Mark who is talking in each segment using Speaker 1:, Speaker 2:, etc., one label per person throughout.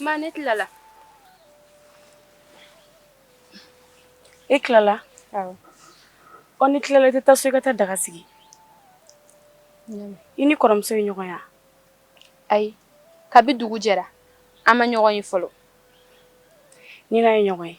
Speaker 1: Ma ne tilala e tilala ɔ n'i tilala i tɛ taa so i ka taa daga sigi i ni kɔrɔmuso ye ɲɔgɔn ye wa ayi kabi dugu jɛra an ma ɲɔgɔn ye fɔlɔ ni n n'a ye ɲɔgɔn ye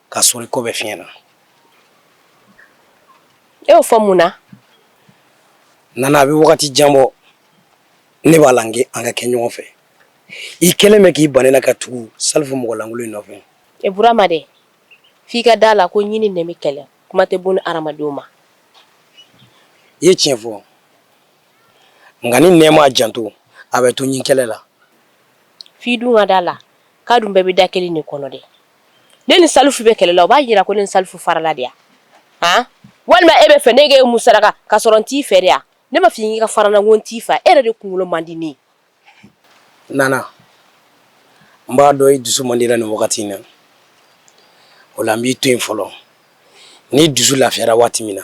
Speaker 1: ka sɔrɔ i ko bɛ fiɲɛ na e y'o fɔ mun na nana a bɛ wagati jan bɔ ne b'a la an ka kɛ ɲɔgɔn fɛ i kɛlen bɛ k'i ban ne na ka tugu salifu mɔgɔlankolon in nɔfɛ e burama dɛ f'i ka da a la ko ɲin ni nɛn bɛ kɛlɛ kuma tɛ bon ni hadamadenw ma i ye tiɲɛ fɔ nka ni nɛn m'a janto a bɛ to ɲin kɛlɛ la f'i dun ka da a la k'a dun bɛɛ bɛ da kelen de kɔnɔ dɛ ne ni salifu bɛ kɛlɛ la o b'a jira ko ne ni salifu farala de wa walima e b'a fɛ ne ka e musalaka ka sɔrɔ n t'i fɛ de wa ne m'a f'i ye k'i ka fara n na wo n t'i fɛ e yɛrɛ de kunkolo man di ne nana n b'a dɔn i dusu man di la nin wagati in na o la n b'i to yen fɔlɔ n'i dusu lafiyara waati min na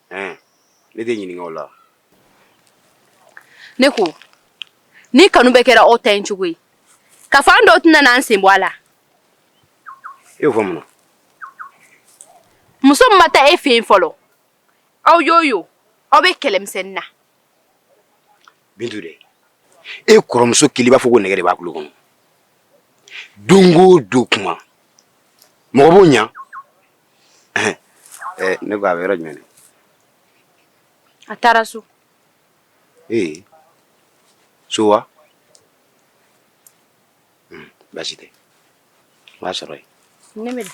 Speaker 1: Ɛɛ ne de ɲininka la ne ko ni kanu bɛɛ kɛra aw ta in ɲɔgɔn ye k'a fɔ an dɔ tɛna n'an sen bɔ a la e y'o fɔ mun na muso ma ta e fɛ fɔlɔ aw y'o ye aw bɛ kɛlɛmisɛn na bi e kɔrɔmuso kɛlen b'a fɔ ko nɛgɛ de b'a bolo kɔnɔ don o don kuma mɔgɔ ɲɛ Eh, ne ko a bɛ yɔrɔ jumɛn de? A taara so. Ee so wa? Un basi tɛ. N b'a sɔrɔ yen. Ne bɛ na.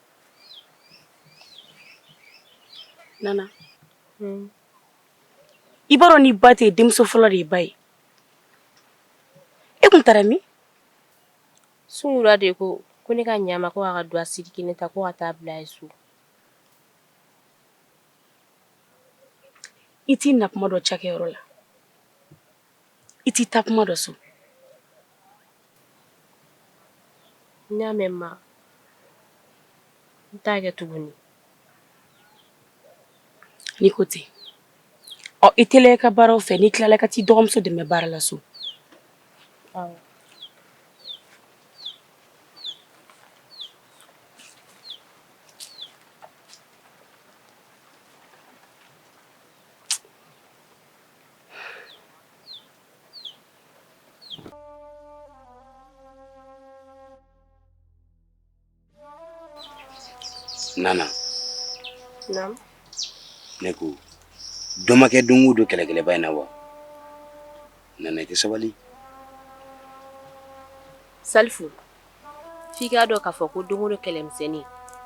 Speaker 1: nana hmm. i b'a dɔn ni ba tɛ yen denmuso fɔlɔ de ye ba ye e tun taara min sunkura de ko ko ne ka ɲɛ a ma ko a ka dɔgɔ siri kelen ta ko ka taa bila a ye so i t'i na kuma dɔn cakɛyɔrɔ la i t'i taa kuma dɔn so n y'a mɛn ma n t'a kɛ tuguni n'i ko ten ɔ i teliya i ka baaraw fɛ n'i tilala ka taa i dɔgɔmuso dɛmɛ baara la so Nana. Naamu. Ne ko dɔ ma kɛ don o don kɛlɛkɛlɛba in na wa? Nana i tɛ sabali. Salifu f'i k'a dɔn k'a fɔ ko don o don kɛlɛmisɛnnin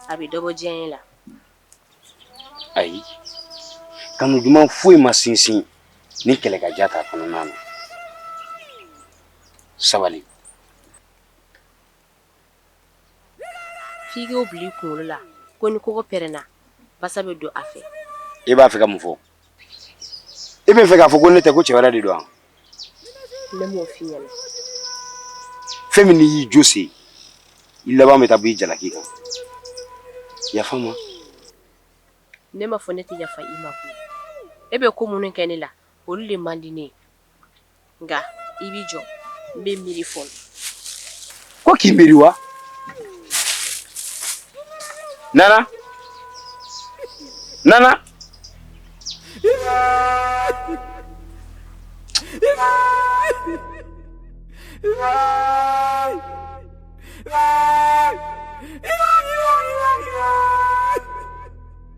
Speaker 1: a bɛ dɔ bɔ diyaɲɛ la. ayi kanu duman foyi ma sinsin ni kɛlɛkaja t'a kɔnɔ nana sabali f'i k'o bila i kunkolo la ko ni koko pɛrɛnna basa bɛ don a fɛ i b'a fɛ ka mun fɔ I bɛ fɛ k'a fɔ ko ne tɛ ko cɛ wɛrɛ de don fɛn min y'i jo se i laban bɛ taa bin i jalaki kan yafa n ma ne m'a fɔ ne tɛ yafa i ma e bɛ ko minnu kɛ ne la olu de man di ne nka i b'i jɔ n bɛ miiri fɔlɔ ko k'i miiri wa nana nana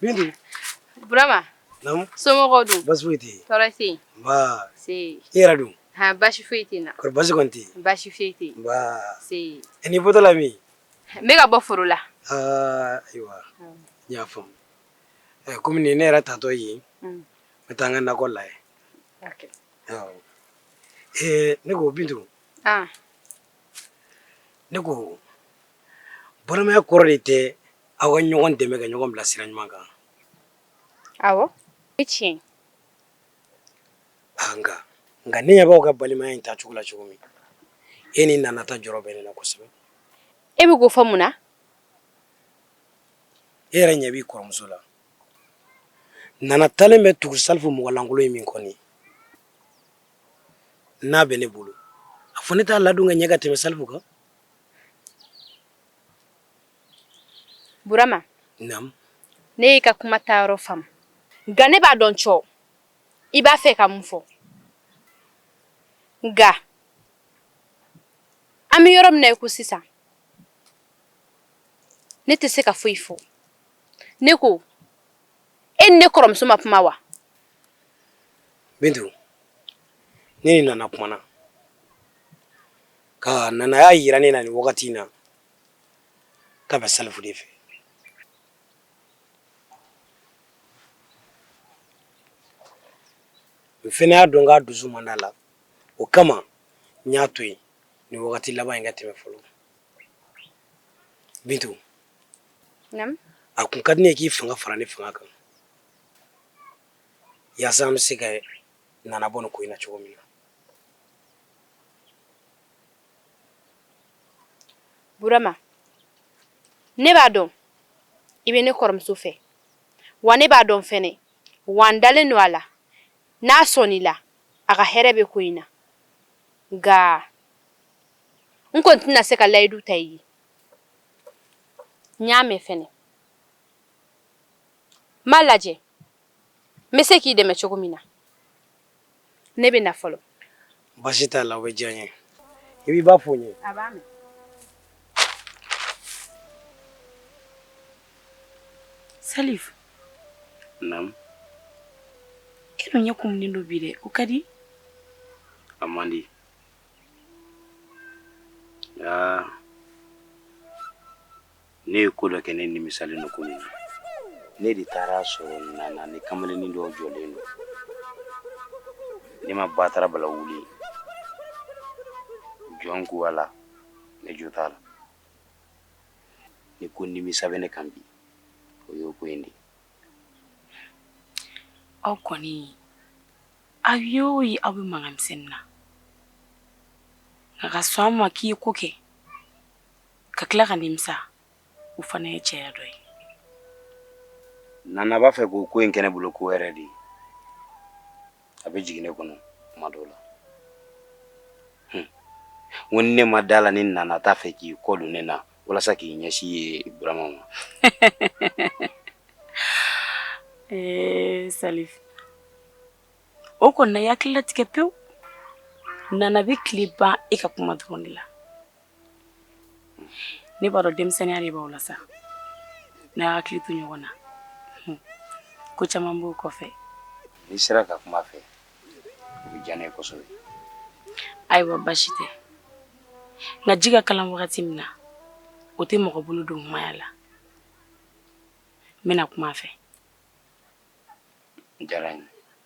Speaker 1: Bintu. Burama. Naamu. Somɔgɔw dun. Baasi foyi tɛ yen. Tɔɔrɔ tɛ yen. Nba. Nse. I yɛrɛ dun. Han baasi foyi tɛ n na. Kɔri baasi kɔni tɛ yen. Baasi foyi tɛ yen. Nba. Nse. Ɛ n'i bɔtɔ la min. N bɛ ka bɔ foro la. Aa ayiwa. N y'a faamu. Ɛ komi nin ye ne yɛrɛ taatɔ ye. N bɛ taa n ka nakɔ la yen. Ok. Awɔ. Ee ne ko Bintu. An. Ne ko balimaya kɔrɔ de tɛ aw ka ɲɔgɔn dɛmɛ ka ɲɔgɔn bila sira ɲuman kan aw i tiɲɛ nka nka ne ɲɛ b'aw ka balimaya in taacogo la cogo min e ni nana ta jɔrɔ bɛ ne la kosɛbɛ e bɛ k'o fɔ mun na e yɛrɛ ɲɛ b'i kɔrɔmuso la nana taalen bɛ tugu salifu mɔgɔlankolon in min kɔ nin n'a bɛ ne bolo a fɔ ne t'a ladon ka ɲɛ ka tɛmɛ salifu kan Burama naamu ne y'i ka kuma ta yɔrɔ faamu nka ne b'a dɔn cɔ i b'a fɛ ka mun fɔ nka an bɛ yɔrɔ min na i ko sisan ne tɛ se ka foyi fɔ ne ko e n'i kɔrɔmuso ma kuma wa ne ni nana kumana Ka nana y'a jira ne na nin wagati in na k'a bɛ salifu de fɛ n fana y'a dɔn k'a dusu manda la o kama n y'a to yen nin wagati laban in ka tɛmɛ fɔlɔ bintu a kun ka di n ye k'i fanga fara ne fanga kan yaasa an bɛ se ka nana bɔ ko in na cogo min na Burama ne b'a dɔn i bɛ ne kɔrɔmuso fɛ wa ne b'a dɔn fana wa n dalen don a la n'a sɔn i la a ka hɛrɛ bɛ ko in na nka n kɔni tɛna se ka layidu ta i ye n y'a mɛn fana n b'a lajɛ n bɛ se k'i dɛmɛ cogo min na ne bɛ na fɔlɔ basi t'a la o bɛ diya n ye i b'i ba fo n ye a b'a mɛn salifu naamu e dun ɲɛ kumunen don bi dɛ o ka di a man di nka Ne ye ko dɔ kɛ ne nimisalen don kunun, ne de taara a sɔrɔ Nana ni kamalennin dɔ jɔlen don, ne ma batara bala wuli jɔn ko Ala ne jo t'a la, ni ko nimisa bɛ ne kan bi o y'o ko in de ye. Aw kɔni aw ye o ye aw bɛ mankan misɛnnin na nka ka sɔn a ma k'i ye ko kɛ ka tila ka nimisa o fana ye cɛya dɔ ye nana b'a fɛ k'o ko in kɛ ne bolo ko wɛrɛ de ye a bɛ jigin ne kɔnɔ kuma dɔw la ko ne ma da a la ni nana t'a fɛ k'i kɔ don ne na walasa k'i ɲɛsin ye burama ma ee sali o kɔni na i hakili latigɛ pewu nana bɛ tile ban e ka kuma dɔrɔn de la ne b'a dɔn denmisɛnninya de b'aw la sa n'a y'a hakili to ɲɔgɔn na ko caman b'o kɔfɛ n'i sera ka kuma a fɛ o bɛ diya ne ye kosɛbɛ ayiwa basi tɛ nka ji ka kalan wagati min na o tɛ mɔgɔ bolo don tuma y'a la n bɛna kuma a fɛ diyara n ye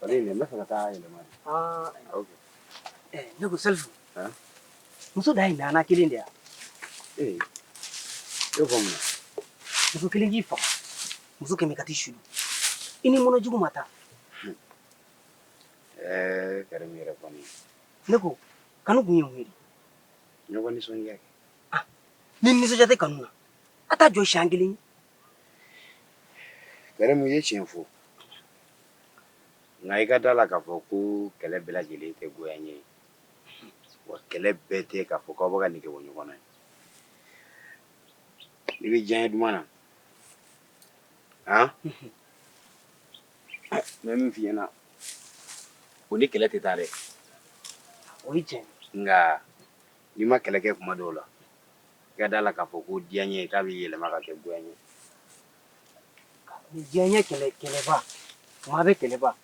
Speaker 1: Ba ne na fana taa yɛlɛma aa ne ko salifu muso dan ye nana kelen de ye wa ee e ko mun muso kelen k'i faga muso kɛmɛ ka taa i su don i ni mɔnɛ jugu ma taa ɛɛ kɛra min yɛrɛ kɔni ne ko kanu kun ye mun ye ɲɔgɔn nisɔndiya kɛ ah ni nisɔndiya tɛ kanu na a t'a jɔ siɲɛ kelen Karimu ye tiɲɛ fɔ nka i ka da la k'a fɔ ko kɛlɛ bɛɛ lajɛlen tɛ goyanye ye wa kɛlɛ bɛɛ tɛ k'a fɔ k'aw bɛ ka nege bɔ ɲɔgɔn na n'i bɛ diyanye duman na han n bɛ min f'i ɲɛna o ni kɛlɛ tɛ taa dɛ o ye tiɲɛ nka n'i ma kɛlɛ kɛ kuma dɔw la i ka da la k'a fɔ ko diyanye k'a bɛ yɛlɛma ka kɛ goyanye diyanye kɛlɛ kɛlɛba kuma bɛ kɛlɛba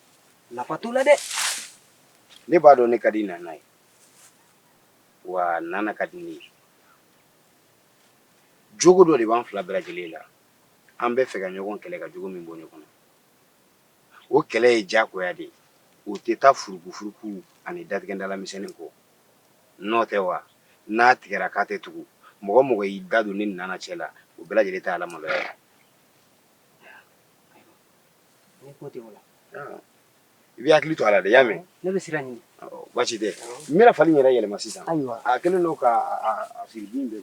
Speaker 1: nafa t'o la dɛ ne b'a dɔn ne ka di nana ye wa nana ka di ne ye jogo dɔ de b'an fila bɛɛ lajɛlen la an bɛ fɛ ka ɲɔgɔn kɛlɛ ka jogo min bɔ ɲɔgɔn na o kɛlɛ ye diyagoya de ye o tɛ taa furukufuruku ani datigɛndalamisɛnnin kɔ N'o tɛ wa n'a tigɛra k'a tɛ tugu mɔgɔ o mɔgɔ y'i da don ne ni nana cɛ la u bɛɛ lajɛlen taa lamaloya i b'i hakili to a la dɛ i y'a mɛn baasi tɛ n fali yɛrɛ yɛlɛma sisan a kɛlen don ka bɛ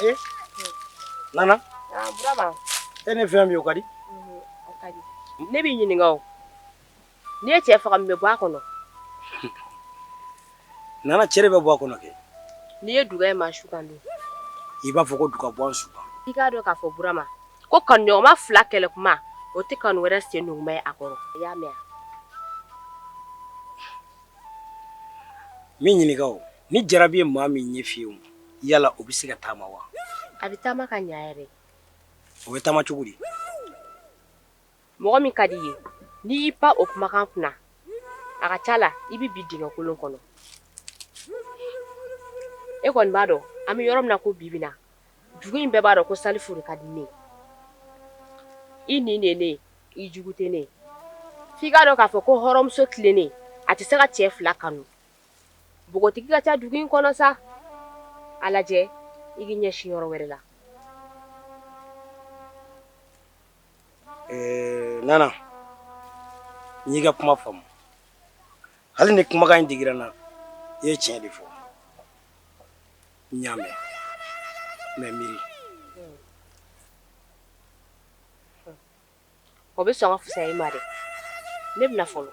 Speaker 1: Eh? Nana? Ah, Burama. I ni fama o ka di? Mhm, o ka di. Ne b'i ɲininka o. N'i ye cɛ faga mun bɛ bɔ a kɔnɔ nana cɛ bɛ bɔ a kɔnɔ kɛ n'i ye duga ye maa su kan don i b'a fɔ ko duga bɔ an su kan i k'a dɔn k'a fɔ burama ko kanuɲɔgɔnma fila kɛlɛ kuma o tɛ kanu wɛrɛ sen numu ye a kɔrɔ i y'a mɛn n b'i ɲininka o ni jarabi ye maa min ɲɛ fiyɛ yala o bɛ se ka taama wa a bɛ taama ka ɲɛ yɛrɛ o bɛ taama cogo di Mɔgɔ min ka di i ye n'i y'i pan o kumakan kunna a ka ca la i bɛ bin dingɛkolon kɔnɔ e kɔni b'a dɔn an bɛ yɔrɔ min na ko bi bi na dugu in bɛɛ b'a dɔn ko salifu de ka di ne ye nin de ne i jugu tɛ ne f'i k'a dɔn k'a fɔ ko hɔrɔnmuso tilennen a tɛ se ka cɛ fila kanu npogotigi ka ca dugu in kɔnɔ sa a lajɛ i k'i ɲɛsin yɔrɔ wɛrɛ la Ɛɛ nana n y'i ka kuma faamu hali ni kumakan in digira n na i ye tiɲɛ de fɔ n y'a mɛn mɛ mi o bɛ sɔn fisasa ma dɛ ne bɛna fɔlɔ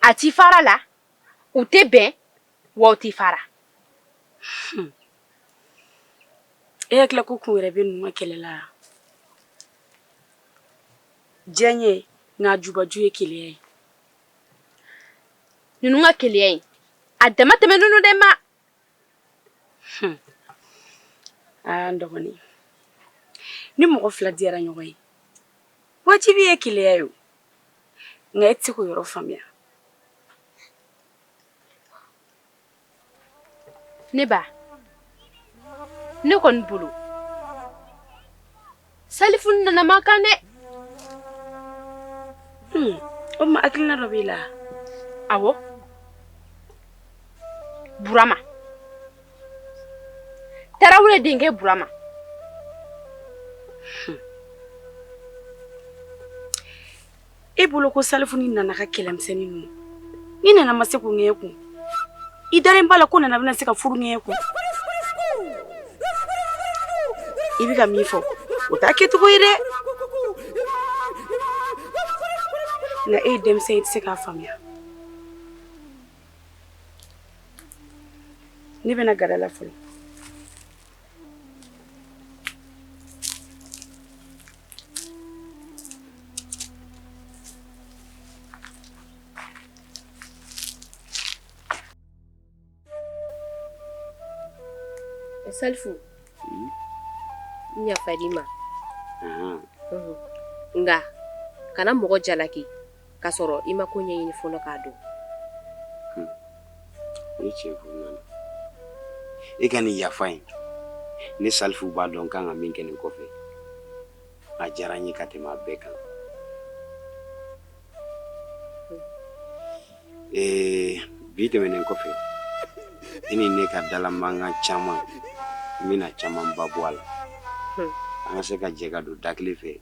Speaker 1: a tɛ fara la u tɛ bɛn wa u tɛ fara hmm. e hakili la ko kun wɛrɛ bɛ ninnu ka kɛlɛ la diɲɛ ye n'a jubaju ye keleya ye ninnu ka keleya ye a dama tɛmɛ ninnu de ma hmm. aa dɔgɔnin ni mɔgɔ fila diyara ɲɔgɔn ye wajibi ye keleya ye nka e tɛ se k'o yɔrɔ faamuya ne ba ne kɔni bolo salifu ni nana man kan dɛ hmm, o ma hakilina dɔ b'i la awɔ burama tarawele denkɛ burama hmm. e bolo ko salifu ni nana ka kɛlɛmisɛnnin ninnu ni nana ma se k'u ŋɛɲɛ kun i dalen b'a la ko nana bɛna se ka furu ŋɛɲɛ kun i bɛ ka min fɔ o t'a kɛcogo ye dɛ nka e ye denmisɛn ye i tɛ se k'a faamuya ne bɛna gada la fɔlɔ Salifu n yafara i ma nka kana mɔgɔ jalaki k'a sɔrɔ i ma ko ɲɛɲini fɔlɔ k'a dɔn. Hun, o ye tiɲɛ ye koyi Nana. E ka nin yafa in, ne Salifu b'a dɔn n ka kan ka min kɛ nin kɔfɛ, a diyara n ye ka tɛmɛ a bɛɛ kan. Hun. Ee, bi tɛmɛnen kɔfɛ, i ni ne ka dalamankan caman, n bɛna camanba bɔ a la. Hun. An ka se ka jɛ ka don da kelen fɛ.